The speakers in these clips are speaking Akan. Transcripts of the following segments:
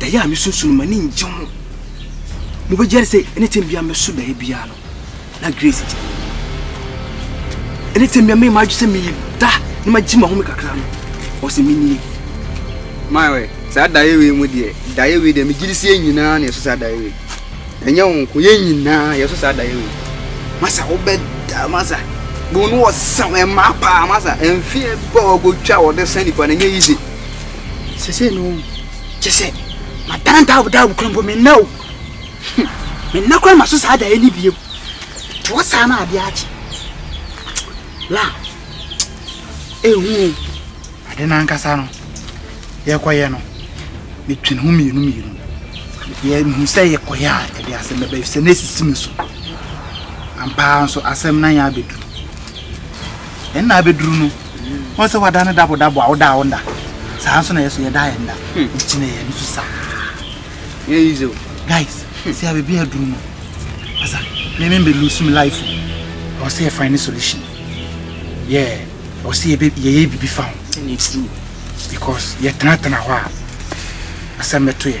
daeɛ a mesusu no m'ani ngye ho mobɛgyae sɛ anytime bia mɛso daeɛ biara no na grace gyina anytime bia mɛyɛ m'adwe sɛ meda na magye mahome kakra no ɔsɛ menie maɛ saa daeɛ wei mu deɛ daeɛ wei deɛ megye de sɛ yɛn nyinaa na yɛso saa daeɛ wei ɛnyɛ wo nko yɛn nyinaa yɛso saa daeɛ wei masa wobɛda masa bono ɔsɛm ɛmaa paa masa ɛmfeɛ bɔ ɔgɔtwa wɔde sɛ nipa no ɛnyɛ easy sese no ɔhu kyɛ sɛ madandaawodaawo kora mpo menna o menna kora ma so saa daeɛ ne bio toɔ saa na adeɛ akye la ɛhu ade no ankasa no yɛkɔyɛ no metwene ho mmienu mmienu yɛhu sɛ yɛkɔyɛ a ɛde asɛm bɛbɛ sɛ na ɛsisi me so ampaa nso asɛm na yɛ abɛduru ɛnna abɛduru no wɔn sɛ wada no dabo dabo a woda a wonda saa nso na yɛ so yɛda yɛn da nti kyinɛ yɛn nso saa yɛ yi zo guys sɛ abebi aduru no asa meme mbɛ lose me life ɛwɔ sɛ yɛfa ne solution yɛ ɛwɔ sɛ yɛyɛ biribi fa ho because yɛtenatena hɔ a asɛm bɛto yɛ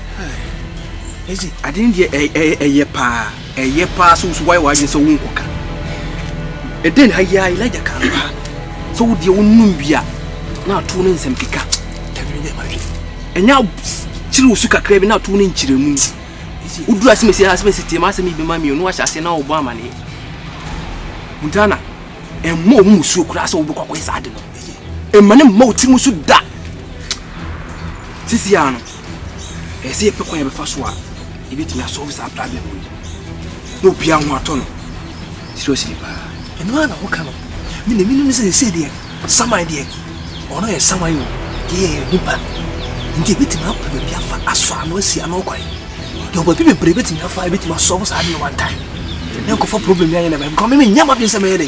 Esi ade no deɛ ɛyɛ paa ɛyɛ paa sɛ woso wayɛ w'adwene sɛ wonkɔka ɛdɛn na ayɛ a Elijah ka no paa sɛ wo deɛ wonom wie a na ato no nsɛm keka ɛnyɛ kyere wo su kakra bi na ato no nkyerɛmu woduru asemɛsi asemɛsi team asɛm yi bɛma mmienu ahyɛ aseɛ na wɔbɔ amaneɛ ntana ɛmmɔ ɔmo mu suo koraa sɛ wobɛkɔ akɔyɛ saa ade no ɛma ne mma wo tirim so da sisi ano ɛsɛ yɛpɛ kwan yɛbɛfa so a yɛbɛtumi asɔlve saa problem yi na obiara ho atɔ no seriously paa ɛno ara na woka no me na menim sɛ sɛ deɛ saman deɛ ɔno yɛ saman o deɛ yɛ nipa nti ɛbɛtumi apɛ baabi afa asɔ ano asi ano kwan yɛwɔ baabi bebree bɛtumi afa ɛbɛtumi asɔlve saa deɛ one time na nkɔfa problem yɛanyɛ na bɛnkɔ me menyɛ madwene sɛ mɛyɛ dɛ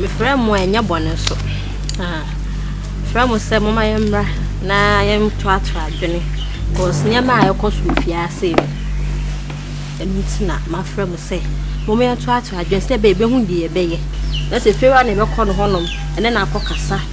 Mefrɛ mo a, ɛnyɛ bɔne nso. Mefrɛ mo sɛ momma yɛmmra na yɛntoatoa adwene because nneɛma a ɛkɔ so fie ase yi, ɛno nti na mafrɛ mo sɛ momma yɛntoatoa adwene sɛ ɛbɛyɛ yɛbɛhu deɛ yɛbɛyɛ na sɛ fie hɔ na ɛbɛkɔ no hɔnom ɛne no akɔkasa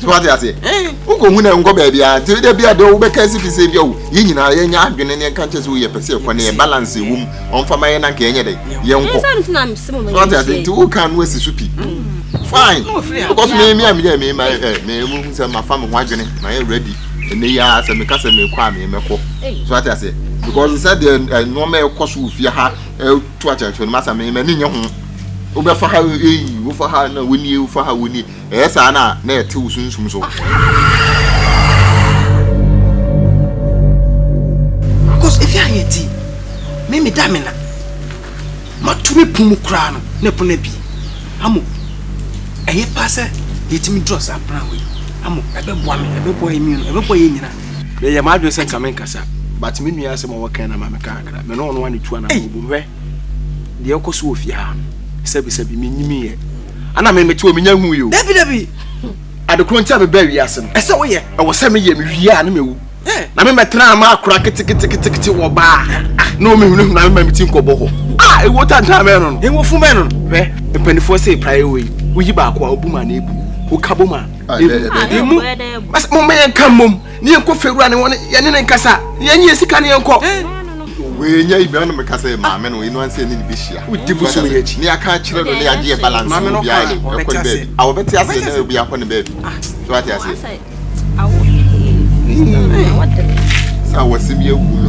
so wate aseɛ wokɔhu no nkɔ baabi a nti da bi a deɛ wobɛka si fi sɛ bi awo yɛ nyinaa yɛnyɛ adwene ne yɛnka nkyɛ sɛ woyɛ pɛ sɛ yɛkɔ ne yɛ balance ɛwɔ mu ɔmfa ma yɛ na nka yɛnyɛ dɛ yɛnkɔ so wate aseɛ nti woka no asi so pi fine because me me a meyɛ me ma ɛ me mu sɛ mafa me ho adwene mayɛ ready ɛnɛ yi ara sɛ meka sɛ mekɔ a memɛkɔ so wate aseɛ because sɛ deɛ nneɛma ɛkɔ so wɔ fie ha ɛto akyɛkyɛ no masa me m'ani nyɛ ho wobɛfa ha eyi wofa ha na wonie wofa ha wonie Ɛyɛ saa no a, na ɛte wo sunsum so. Because efi a yɛ ti, me me da me na. Ma to me pun mu koraa no, na pun na bi. Amo, ɛyɛ paa sɛ yɛtumi dura saa plan wei. Amo, ɛbɛboa me, ɛbɛboa yɛ mmienu, ɛbɛboa yɛ nyina. Meyɛ m'adwene sɛ nka me nkasa, but me nua asɛm a wɔkɛn na ma me ka kakra. Me ne ɔno ane tu anaa ɔbom hwɛ deɛ ɛkɔ so wɔ fie ha no. Sɛbi sɛbi, menyimi yɛ. ana me mete wɔ menya hu yi o dabi dabi adekoro nti a mebaa wiase no ɛsɛ woyɛ ɛwɔ sɛ meyɛ mewie a ne mawu na memɛtena ma akora keteketeketekete wɔ baa na ɔmehunahunu na mema meti nkɔbɔ hɔ a ɛwuo tantaa mɛ no no ɛwɔfu mɛ no hwɛ mpanimfoɔ sɛ praeɛ wɔ yi woyi baako a wobu ma na ɛbu woka bom a ɛmu momɛyɛ nka mmom ne yɛnkɔ fewura ne wɔne yɛne ne nkasa ne yɛnye yɛ sika ne yɛnkɔ wɔanya ibia no meka sɛ maame no ɛnu ansɛ ne ne bɛhyia wodi bosom yɛ akyi ne yɛaka akyerɛ no ne yɛagye yɛ balance maame no kaa ɔbɛte aseɛ a wɔbɛte aseɛ na obi akɔ ne baabi so ate aseɛ sɛ awɔsɛm yɛ awu me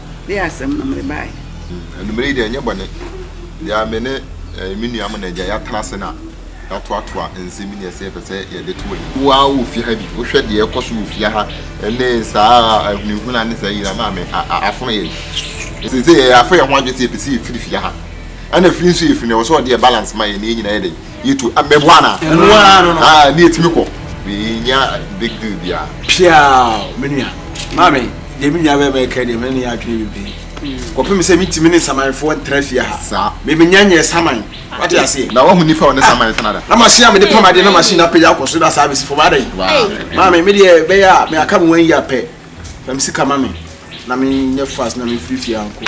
Dei asɛm no mede baeɛ. Anwummerɛ yi deɛ ɛnyɛ bɔne deɛ me ne me nua mo na agya yɛatena ase na yɛatoatoa nsɛm ne ɛsɛ yɛpɛ sɛ yɛde to ani. Wo ara wɔ fie ha bi, wohwɛ deɛ ɛkɔ so wɔ fie ha ne saa ahunahuna ne saa nyinaa maame afono yɛn. Sɛ sɛ yɛafɛ yɛn ho adwene sɛ yɛpɛ sɛ yɛfiri fie ha ɛna firi nso yɛfiri no ɛwɔ sɛ ɔde yɛ balance ma yɛn na yɛn nyinaa yɛ dɛn yɛtu abɛbɔ ana ɛno ara no no ne yɛtumi kɔ yɛnya big deal biara piaa me nua maame deɛ me nua bɛma ɛka deɛ mene ne yɛ adwene bebree kɔpem sɛ metumi ne samanfoɔ ntra fie ha saa memenya nyɛ saman wate aseɛ na wahu nifa ɔne saman tena da na machine a mede pam adeɛ na machine apagya akɔ so da saa bɛsi fam adɛn maame medeɛ bɛyɛ a meaka me wan yi apɛ fam sika ma me na menyɛ fast na mefiri fie ankɔ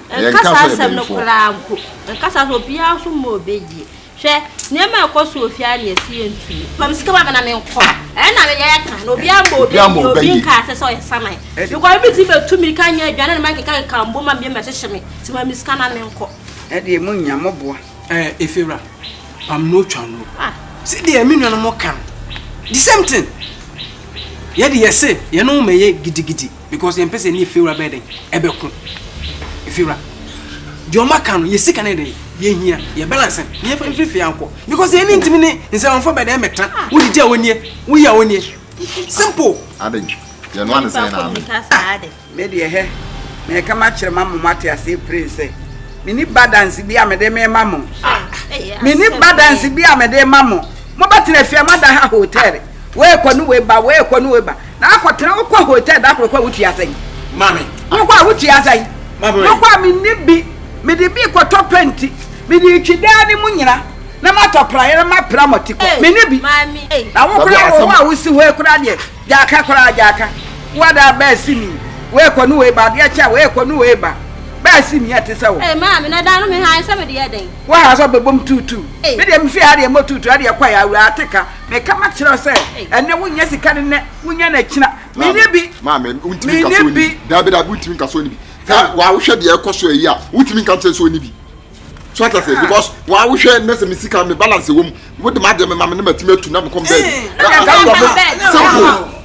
Yɛnka saa asɛm no koraa mpo. Yɛnka saa asɛm no, obiara nso mma obi yie. Hwɛ, nneɛma a ɛkɔ so wɔ fie ara na yɛse yɛntumi. Ma me sika ma me na menkɔ. Ɛyɛ na meyɛ yɛ ka na obiara mma obi yie, obi nka asɛ sɛ ɔyɛ saman. Because obi tumi bɛtu mmirika anyɛ aduane na mankekakeka mbo ma mmiem ahyehye me. Nti ma me sika na menkɔ. Ɛdeɛ monnya mmɔboa. Ɛɛ Efiewura, pam no twa no. Sɛdeɛ me nuanom ka no, the same thing. Yɛde yɛse yɛne wo mmɛyɛ gidigidi. because yɛn pɛ sɛ ne efiewura bɛyɛ dɛ ɛbɛko efiewura deɛ ɔmo aka no yɛ sika ne dɛ yɛ hia yɛ balance ne yɛ fɛn fifie ankɔ because yɛn ne ntumi ne nsɛmfo bɛ dɛ ɛmɛtra wodi gya onie woyi a onie simple. adi yɛn no adi sɛn na ami. ne deɛ hɛ na yɛ kama kyerɛ ma mo mo ate ase pray sɛ mi ni balance bi a mi de mi ma mo mi ni balance bi a mi de ma mo mo bɛ tena fia mo ada ha hotel. wei kɔ ne wei ba wei kɔ ne wei ba na akɔtena wokɔ hotel da koro kɔ a wotua sɛn maame wokɔ a wotua sɛn wokɔ a menni bi mede bi kɔtɔ pɛnti mede twi daa ne mu nyina na matɔ praeɛ na mapra mɔte kɔ menni bi na wokora wɔ hɔ a wosi hɔ kora deɛ gyaaka koraa gyaaka woadaa bɛɛsi mi wei kɔ ne wei ba adeɛ kyɛ a wei kɔ ne wei ba bɛɛsi mi ɛte sɛ wo maame na da no mehaa sɛ mede yɛ dɛn wohaa sɛ bɛbom tuutuu medeɛ mefie ha deɛ mɔ tuutuu adeɛ kɔ yɛ awura ateka meka makyerɛ sɛ ɛnɛ wonyɛ sika ne nɛ wonya no akyina menyɛ bi maame wontumi nka sɛ ɔni daabi daabi wontumi nka sɛ ɔni bi wawohwɛ deɛ ɛkɔ so ayi a wontumi nka sɛ ɔni bi so ata sɛ because wawohwɛ ne sɛ me sika me balance wɔ mu wode madeɛ me ma me ne matumi atu na mekɔm baabi simple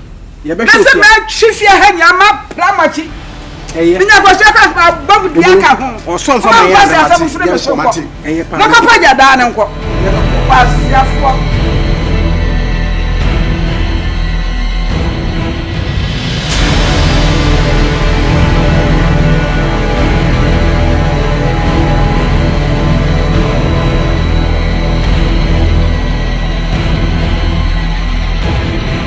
Yɛbɛhwɛ sɛ mɛ twi fie ha nyinaa ma pra mɔkyi. Ɛyɛ. Minya kɔsua kɔ asoma bɔ mu dua ka ho. Ɔsɔ nfa ma yɛ na mate. Ɔsɔ nfa yɛ na mate. Ɛyɛ paa. Mɛkɔ pa gya daa ne nkɔ. Yɛbɛkɔ. Wasiafoɔ.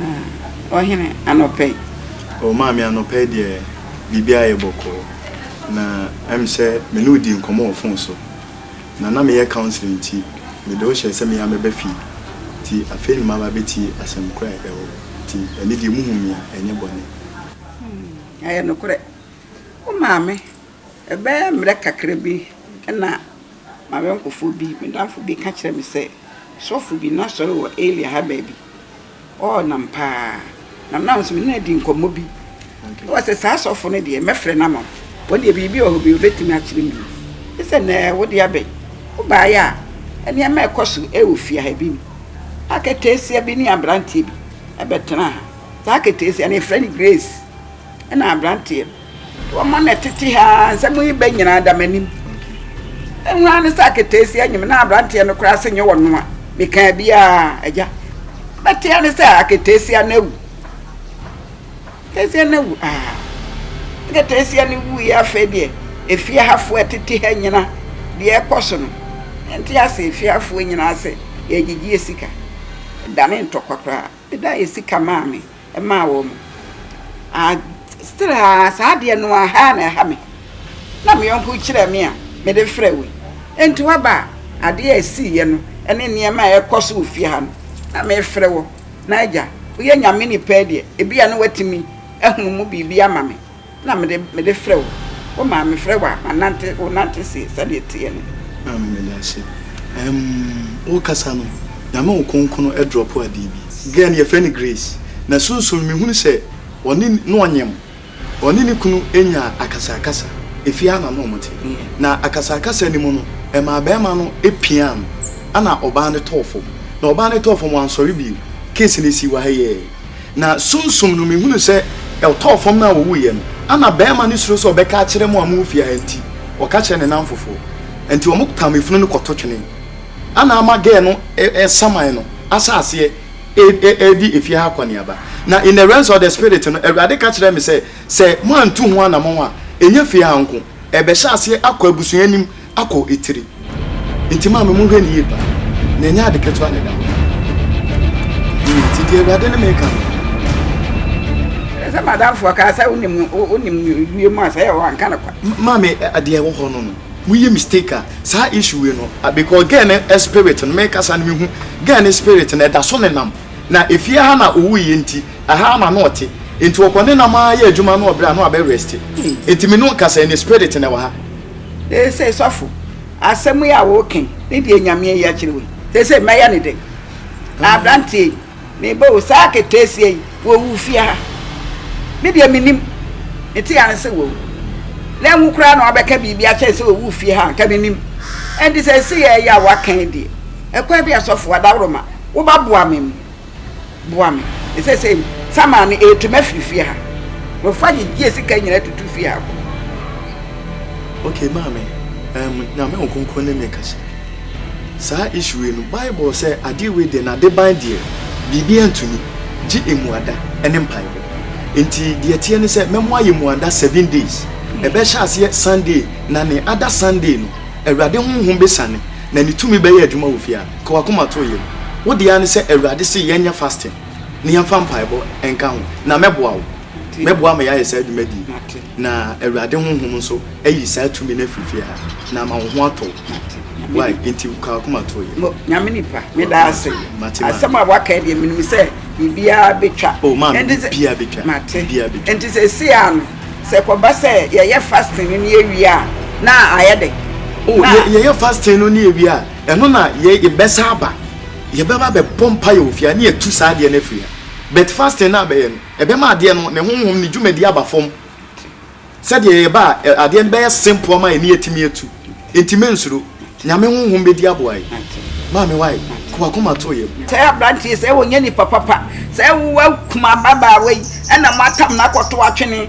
Ah, ɔhene anɔpɛ yi. Oh, maame anɔpɛ yi deɛ biribi ayɛ bɔkɔɔ. Na ɛm sɛ me ne wo dii nkɔmmɔ wɔ fon so. Na na meyɛ counseling nti mede wo hyɛɛ sɛ me ara mɛba fie. Nti afei na maba abɛtie asɛm korɔ a ɛwɔ hɔ. Nti ɛnɛ deɛ muhu me a ɛnyɛ bɔne. Hmm, ɛyɛ nokorɛ. Wo maame, ɛbɛyɛ mmerɛ kakra bi na M'ayɔnkofoɔ bi, me damfo bi ka kyerɛɛ me sɛ sɔfo bi na sɔre wɔ area ha baabi. Ɔɔ nam paa. Na na nso me ne no adi nkɔmmɔ bi. Okay. Wɔ sɛ saa sɔfo no deɛ mɛfrɛ no ama wo. Wɔn deɛ biribi wɔ hɔ bi obetumi akyerɛ mu. Ne sɛ nɛɛ wo de abɛn. Wobaeɛ a nneɛma a ɛkɔ so ɛwɔ fie ha bi ni. Aketeesia bi ne aberanteɛ bi ɛbɛtenaa ha. Saa aketeesia no yɛfrɛ no Grace. Ɛna aberanteɛ no. Wɔma na tete ha ara nsɛm yi bɛ nyinaa da m'anim. Ɛho ara ne sɛ akataasi anyim na aberanteɛ no koraa se nyɛ ɔno a mekaa biara agya. Bɛte ara ne sɛ akataasi ano awu. Akataasi ano awu aa. Akataasi ano wu yi afei deɛ efie hafoɔ ɛtete ha nyina deɛ ɛkɔ so no. Ɛnte ase efie hafoɔ nyinaa sɛ yɛgyegyeɛ sika. Ɛdane ntɔkwa koraa. Meda yɛ sika maa me. maa wɔn. Ah, still ah, saa adeɛ no aha na ɛha me. Na me yɔnko kyerɛ me a, mede frɛ wei. Enti waba a, adeɛ a ɛsiiɛ no, ɛne nneɛma a ɛkɔ so wɔ fie ha no, na mefrɛ wɔ. Na agya, woyɛ nyame nipa yi deɛ, ebi a na watumi ahunu mu biribi ama me. na mede mede frɛ wo. Wo maa me frɛ wo a manante wo nante se sɛdeɛ ɛteɛ no. Amen meda ase ɛɛm wo kasa no nyame wo konkono ɛdrɔpo adee bi. Girl no yɛfrɛ no Grace na sunsum no mehunu sɛ ɔne na ɔnyem ɔne ne kunu nya akasakasa efie ha na na ɔmo te na akasakasa no mu no ɛmaa bɛɛma no piaa no ɛna ɔbaa no tɔɔ fɔm na ɔbaa no tɔɔ fɔm wansɔre bio case no esii wɔ ha yi ɛɛ. Na sunsum no mehunuu sɛ ɔtɔɔ fam na ɔwuiɛ no, ana barima no suro sɛ ɔbɛka akyerɛ mo a mowɔ fie ha enti, ɔka kyerɛɛ ne nnamfofoɔ, enti wɔpam efunu no kɔto twenee. Ana ama gɛɛ no saman no ahyɛ aseɛ redi efie ha akɔneaba. Na in the realms of the spirit no, Awurade ka kyerɛɛ me sɛ, sɛ moantu ho anamɔn a, ɛnyɛ fie ha nko, ɛrebɛhyɛ aseɛ akɔ abusua anim, akɔ etiri. Nti maa me mo hwɛ ne yie paa. Na ɛnyɛ ade ketewa na ɛda hɔ. Nti deɛ awurade ne meka no. Sɛ madamfo ɔkaa sɛ wonim wonim wie mu a sɛ yɛ wanka no kwa. Maa me adeɛ wɔ hɔ no no. Moyɛ mistake a saa issue wei no because girl ne spirit no mekasa no mehu girl ne spirit no ɛda so nenam na efie ha na ɔwuiɛ nti ɛha ara na na ɔte nti ɔkɔ nenam ara yɛ adwuma na ɔbrɛ a na wabɛ rest nti me ne ɔkasa ne spirit na ɛwɔ ha. Seesei, sɔfo, asɛm yi a woreka yi ne deɛ Nyame ayi akyerɛ wo yi, seesei mɛyɛ no dɛn? Aberanteɛ yi, mebɔ wo saa aketeesia yi wɔ wo fie ha. Me deɛ mennim. Mete ane sɛ wawu. Na nwo koraa na woabɛka biribi akyɛn sɛ ɔwu fie ha a, anka mennim. Ɛnti sɛ ɛsei ɛyɛ a woaka yi deɛ, ɛkwan bɛn a sɔfo, adaworoma, wobaboa me mu? boa me ne sɛ sɛ sama no ɛtu mɛfiri fie ha wɔfa gyegyeɛ sika nyina tutu fie ha kɔ. Ok maame um nyame nkonko ne me kasa saa issue wei no bible sɛ adeɛ wei deɛ na deban deɛ biribi antumi gye emuada ɛne mpaebɔ nti deɛ teɛ ne sɛ mɛmo ayɛ muada seven days ɛbɛhyɛ aseɛ Sunday na ne ada Sunday no awurade honhom bɛsane na ne tumi bɛyɛ adwuma wɔ fie a Ka w'akoma to yam. Wo dea ne sɛ Awurade se yɛn nyɛ fasting ne yɛn fa mpaebɔ nka ho na mɛboa wo. Mɛboa ama yɛayɛ saa dwumadi yi na Awurade Honhom nso ayi saa tumi no afiri fie ha na ama wo ho atɔ wo. Wai? Enti ka w'akoma to yam. Nyame nipa, meda ase. Asɛm a waka yi deɛ menim sɛ biribiara bɛtwa. Oh maame, biribiara bɛtwa. Mate. Enti seesei ara no, sɛ ɛkɔba sɛ yɛyɛ fasting no ne yɛwie a, na ayɛ dɛ? Oh, yɛyɛ fasting no ne yɛwie a, Ɛno na yɛ yɛbɛsa aba yɛbɛba bɛbɔ mpaeɛ wɔ fie ha ne yɛatu saa adeɛ no afiri ha but fasting no a bɛyɛ no ɛbɛma adeɛ no ne honhom ne dwumadie aba fam sɛdeɛ yɛba a ɛ adeɛ no bɛyɛ simple ama yɛne yɛatumi atu nti mensuro Nyame honhom bɛdi aboa yɛ maame wai ko wakoma too yɛm. Sɛ abranteɛ yi sɛ ɔnyɛ nipa papa sɛ wo akuma ababaawa yi ɛna mo atam no akɔto atwene